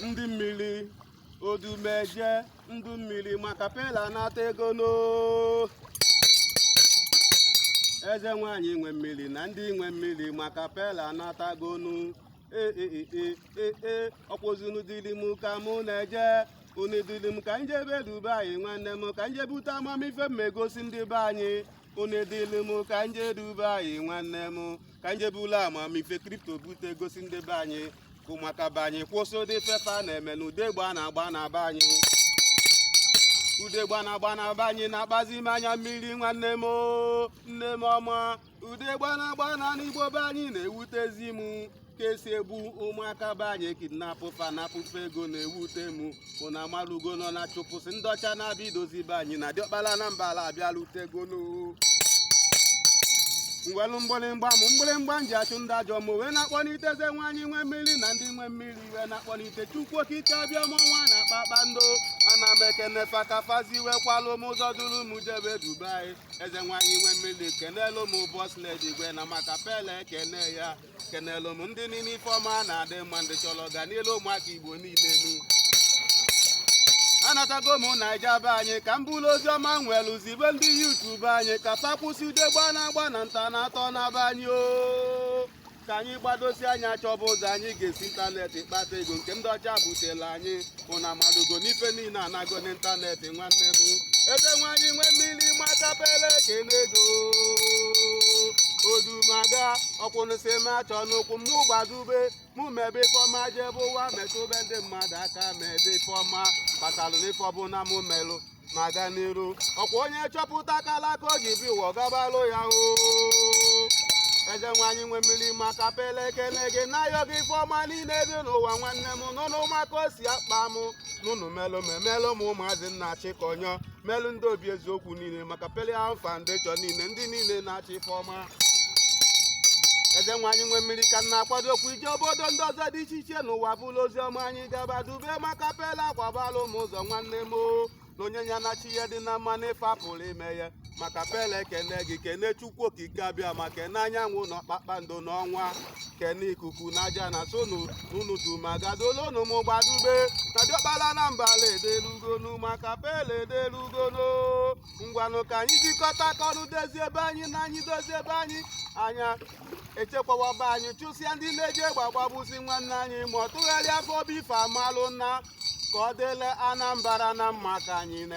ndị mmiri odumeje ndị mmiri makapela natagonu eze nwanyị nwe mmiri na ndị nwe mmiri makapela natagonu ee e, e, e, ee ee ọkwụzinu dịrị m ka mụ na-eje unu dịrị m ka njebe dubai nwanne m ka nje bute amamife m egosi ndị be anyị unu dịrị m ka nje dubai nwanne m ka nje bulu amamife kripto bute gosi ndị be anyị ka ụmụaka be anyị kwụsị ụdị ife fa na-eme na ude egbe a na-agba na be anyị ude egbe a na-agba na be anyị na-akpazi m anya mmiri nwanne m oo, nne m ọma ude egbe a na-agba n'anị igbo be anyị na-ewutezi m ka esi egbu ụmụaka be anyị kidnapụ fa napụ fa ego na-ewute m unu amalugonu na chụpụsị ndị ọcha na-abịa idozi be anyị na diọkpala na mba ala abịalutegonu nwelu mgbịrịmgba mụ mgbịrịmgba m ji achụ ndị ajọ mmụọ wee na-akpọlite eze nwanyị nwe mmiri na ndị nwe mmiri wee na-akpọlite chukwu okike abịama ọnwa na kpakpando ana m ekene fa ka fazi wee kwalụ m ụzọ duru m jebe dubai eze nwanyị nwe mmiri kenelu m boss lady igwe na makapela ekene ya kenelu m ndị niile ife ọma na-adị mma ndị chọrọ ọganilu ụmụaka igbo niile nu anatago m naija be anyị ka m buru ozi ọma nwelu zibe ndị youtube anyị ka fa kwụsị ude egbe a na-agba na ntọ a na-atọ na be anyị o ka anyị gbadosi anya chọba ụzọ anyị ga-esi ịntanetị kpata ego nke ndị ọcha butela anyị unu amalugo n'ife niile anago n'ịntanetị nwanne m eze nwanyị nwe mmiri makapela ekenego odumaga ọkwụnụsị ma chọ n'ụkwụ mụ gbadube mụ mebe ife ọma jebe ụwa metụbe ndị mmadụ aka mebe ife ọma kpatalụ n'ife ọbụna mụ melụ na-aga n'iru ọkwa onye chọpụta akalaka o ji bịa ụwa ọ gabalụ ya o eze nwanyị nwe mmiri makapela ekele gị na-ayọ gị ife ọma niile dị n'ụwa nwanne m n'unu ma ka o si akpa m n'unu melụ m emelụ m ụmụazị nna chịkọnyọ melụ ndị obi eziokwu niile makapelian foundation niile ndị niile na-achọ ife ọma eze nwanyị nwe mmiri ka m na-akwado okwu ije obodo ndị ọzọ dị iche iche n'ụwa buru ozi ọma anyị gabadube makapela kwabalụ m ụzọ nwanne m o na onye ya na chi ya dị na mma n'ife apụrọ ime ya makapela ekene gị kene chukwu okike abịama kene anyanwụ na kpakpando na ọnwa kene ikuku na ajana sọ unu du m aga dulunu m gbadube na diọkpala na mbala edelugonu makapela edelugonu ngwanụ ka anyị jikọta aka ọnụ dozie be anyị na anyị dozie be anyị anyị echekwaba be anyị chụsịa ndị na-eji egbe agbagbusi nwanne anyị ma ọ tụgharịa fa obi fa amalụ na ka ọ dịlị Anambra na mma ka anyị na